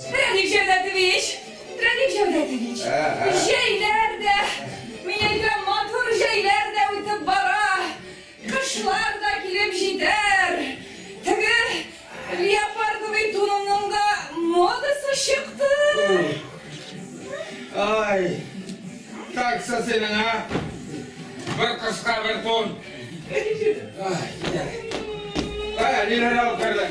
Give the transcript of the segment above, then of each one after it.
Прәник Җәүдәтович! Прәник Җәүдәтович! Җәйләр дә, мин әйтәм, матур җәйләр дә үтеп бара, кышлар да килеп җитәр. Теге леопардовый туныңның да модасы чыкты. Ай, таксы синең, а? Бер кышка бер тун. Ай, әниләр алып керде.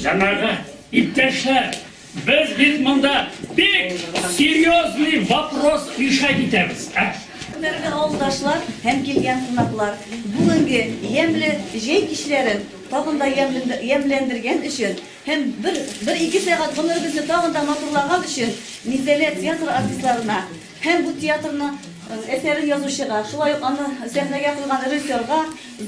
Җәмәгать, иптәшләр, без бит монда бик серьезный вопрос решать итәбез. Ә? Хөрмәтле авылдашлар һәм килгән кунаклар, бүгенге ямьле җәй кичләрен тагын да ямьләндергән өчен һәм бер-ике сәгать гомеребезне тагын да матурлаган өчен Мизәлә театры артистларына Һәм бу театрны әсәрен язучыга, шулай ук аны сәхнәгә куйган режиссерга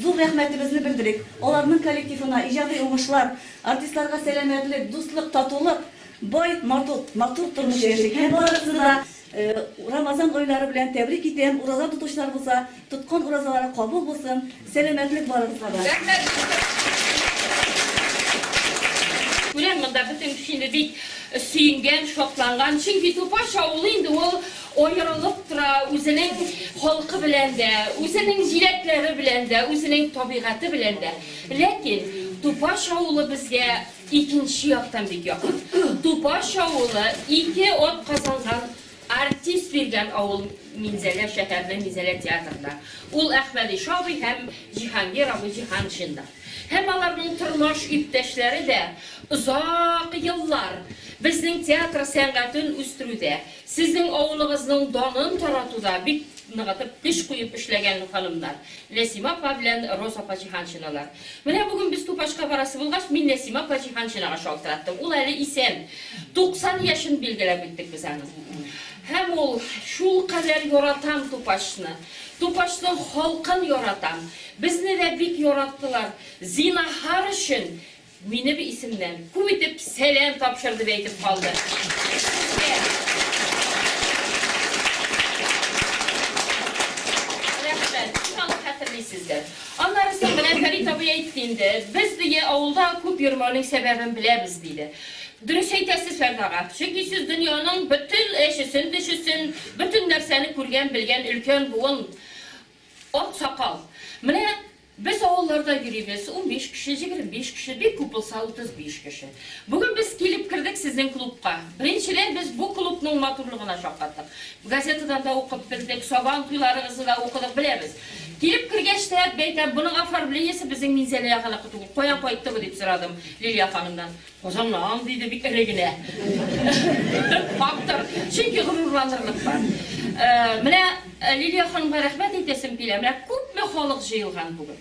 зур рәхмәтебезне белдерик. Аларның коллективына иҗади уңышлар, артистларга сәламәтлек, дуслык, татулык, бай, матур тормыш яшик. Һәм барыгызны да Рамазан айлары белән тәбрик итәм. Ураза тотучыларыбызга Тоткан уразалары кабул булсын, сәламәтлек барыгызга да! Күрәм монда бөтен кешене бик сөенгән, шатланган, чөнки Тупаш авылы инде ул аерылып тора, үзенең халкы белән дә, үзенең җиләкләре белән дә, үзенең табигате белән дә. Ләкин Тупаш авылы безгә икенче яктан бик якын. Тупаш авылы ике атказанган Артист биргән авыл Минзәлә шәһәренең Минзәлә театрында. Ул Әхмәди Шабый һәм Җиһангир абый Җиһаншинда. Һәм аларның тормаш иптәшләре дә озак еллар безнең театр сәнгатен үстерүдә, сезнең авылыгызның данын таратуда бик ныгытып, көч куеп эшләгән ханымнар, Нәсимә апа белән Роза апа Җиһаншиналар. Менә бүген без Тупашка барасы булгач, мин Нәсимә апа Җиһаншинага шалтыраттым. Ул әле исән. 90 яшен билгеләп үттек без аның. Һәм ул, Шулкадәр яратам Тупашны. Тупашның халкын яратам. Безне дә бик яраттылар. Зинаһар өчен, минем исемнән, күп итеп сәлам тапшыр, дип әйтеп калды. Сезгә. Рәхмәт. Сез аны хәтерлисездер. Аннары соң менә Фәрит абый әйтте инде, без, дөе, авылда күп йөрмәүнең сәбәбен беләбез, диде. Дөрес әйтәсез, Фәрит ага. Чөнки сез дөньяның бөтен эчесен-тешесен, бөтен нәрсәне күргән, белгән өлкән буын аксакал. Менә без авылларда йөрибез, унбиш кеше, җигерме биш кеше, бик күп булса, утыз биш кеше. Бүген без килеп кердек сезнең клубка. Беренчедән, без бу клубның матурлыгына шаккаттык. Газетадан да укып белдек, Сабан туйларыгызны да укыдык, беләбез. Килеп кергәч тә, әйтәм, Моның оформлениесе безнең Минзәлә ягыныкы түгел, каян кайттымы? дип сорадым Лилия ханымнан. Казаннан, диде бик эре генә. Фактор. Чөнки горурланырлык бар. Менә Лилия ханымга рәхмәт әйтәсем килә, менә күпме халык җыелган бүген.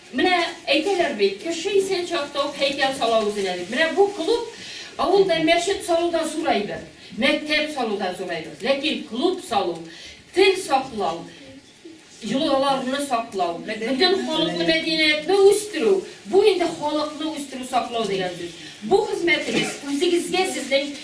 Менә әйтәләр бит, кеше исән чакта ук һәйкәл сала үзенә дип. Менә бу клуб авылда мәчет салуда зур әйбер, мәктәп салуда зур әйбер. Ләкин клуб салу, тел саклау, йолаларны саклау, бөтен халыклы мәдәниятне үстерү, бу инде халыкны үстерү, саклау дигән сүз. Бу хезмәтегез үзегезгә сезнең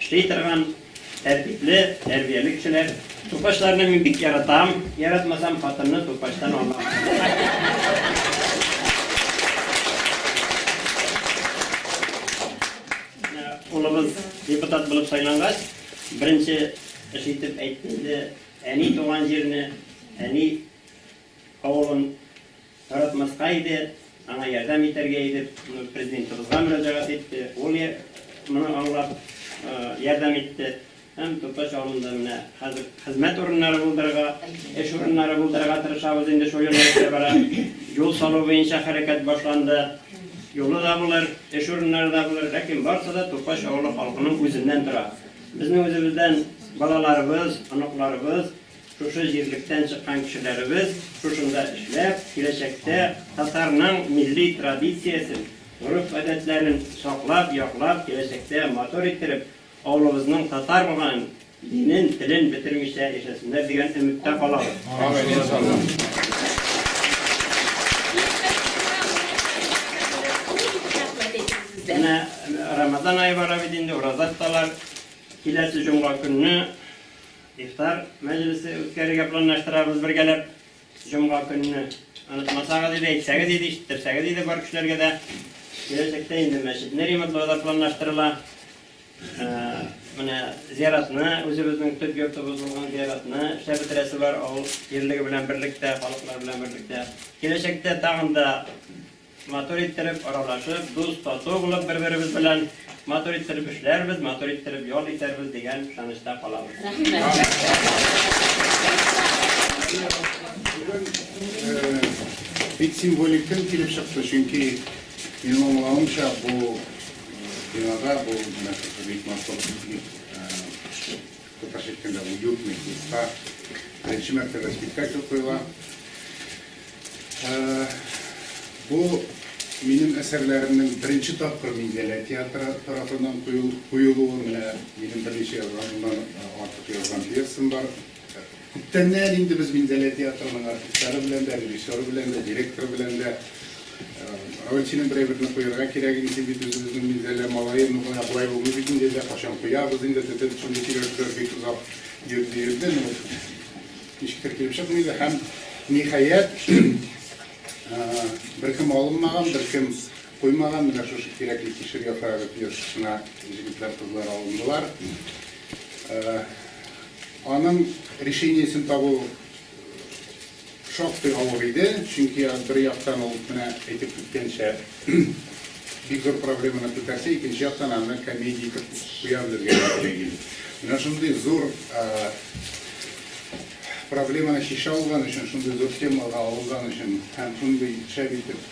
Эшли торган, тәртипле, тәрбияле кешеләр. Тупачларны мин бик яратам. Яратмасам, хатынны тупачтан алам. Улыбыз депутат булып сайлангач, беренче эш итеп әйтте инде, әни туган җирне, әни авылын Яратмаска иде, аңа ярдәм итәргә иде, Президентыбызга мөрәҗәгать итте, ул моны аңлап, ярдәм итте һәм Тутач авылында менә хәзер хезмәт урыннары булдырырга, эш урыннары булдырырга тырышабыз инде, шул юнәлештә бара. Юл салу буенча хәрәкәт башланды. Юлы да булыр, эш урыннары да булыр, ләкин барысы да Тукач авылы халкының үзеннән тора. Безнең үзебездән балаларыбыз, оныкларыбыз Шушы җирлектән чыккан кешеләребез шушында эшләп, киләчәктә татарның милли традициясен, гореф-гадәтләрен саклап, яклап, киләчәктә матур иттереп, авылыбызның татар булганын, динен, телен бетермичә яшәсеннәр дигән өметтә калабыз. Амин, иншаллаһ. Менә Рамазан ае бара бит инде, ураза тоталар. Киләсе җомга көнне. Ифтар мәҗлесе үткәрергә планлаштырабыз бергәләп. Җомга көнне онытмасагыз иде, әйтсәгез иде, ишеттерсәгез иде бар кешеләргә дә. Киләчәктә инде мәчетне ремонтлау да планлаштырыла. Менә зиратны, үзебезнең төп йортыбыз булган зиратны эшләп бетерәсе бар, авыл җирлеге белән берлектә, халыклар белән берлектә. Киләчәктә тагын да Матур иттереп аралашып, дус-тату булып бер-беребез белән матур иттереп эшләрбез, матур иттереп ял итәрбез дигән ышанычта калабыз. Бик символик көн килеп чыкты, чөнки минем аңлавымча бу бинада бу бик матур Татарча әйткәндә, уютный клубка беренче мәртәбә спектакль куела. Бу минем әсәрләремнең беренче тапкыр Минзәлә театры тарафыннан куелуы. Менә минем берничә язган, моннан артык язган пьесам бар. Күптәннән инде без Минзәлә театрының артистлары белән дә, режиссеры белән дә, директоры белән дә, Әүвәлченең берәйберне куярга кирәк инде, син бит үзебезнең Минзәлә малае, ну гына болай булмый бит инде, әллә кайчан куябыз инде, т-т-т, шундый сөйләшүләр бик озак йөрде, йөрде, ну, ничектер килеп чыкмый иде һәм, ниһаять, беркем алынмаган, беркем Куймаган, менә шушы кирәкле кишер яфрагы пьесасына җегетләр, кызлар алындылар. Аның решениесен табу шактый авыр иде, чөнки бер яктан ул менә әйтеп киткәнчә бик зур проблеманы күтәрсә, икенче яктан аны комедия итеп куя белергә кирәк иде. Менә шундый зур проблеманы чишә алган өчен, шундый зур темага алынган өчен һәм шундый шәп итеп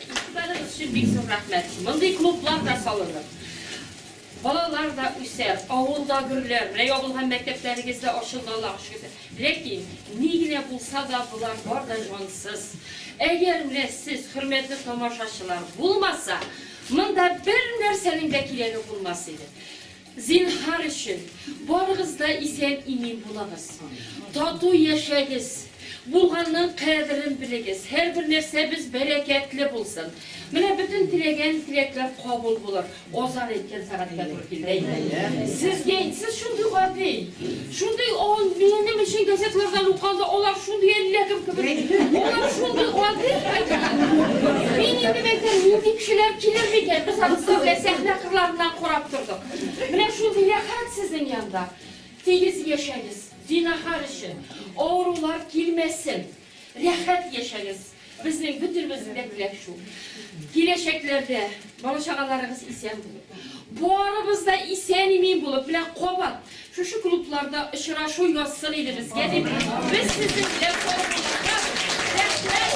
Игътибарыгыз өчен бик зур рәхмәт. Мондый клублар да салынып, балалар да үсә, авылда гөррләр менә ябылган һәм мәктәпләрегез дә ачылды, Аллага шөкер. Ләкин ни генә булса да болар бар да җансыз. Әгәр менә сез, хөрмәтле тамашачылар, булмаса, монда бернәрсәнең дә кирәге булмас иде. Зинһар өчен, барыгыз да исән-имин булыгыз. Тату яшәгез. Булганның кадерен белегез. Һәрбер нәрсәбез бәрәкәтле булсын. Менә бөтен теләгән теләкләр кабул булыр. Азан әйткән сәгатькә туры килде әйе. Сезгә, сез шундый гади. Шундый ан, минем өчен газетлардан укыганда алар шундый әллә кем кебек, алар шундый гадел хәтта. Мин инде мәйтәм, нинди кешеләр килер микән, без анысы белән сәхнә кырларыннан карап тордык. Менә шундый рәхәт сезнең янда. Тигез яшәгез, зинахар өчен, авырулар килмәсен. Рәхәт яшәгез! Безнең бөтенебезнең дә теләк шул. Киләчәкләрдә бала-чагаларыгыз исән булып, барыбыз да исән-имин булып, менә кабат шушы клубларда очрашу язсын иде безгә дип, без сезнең белән саубуллашабыз. Рәхмәт!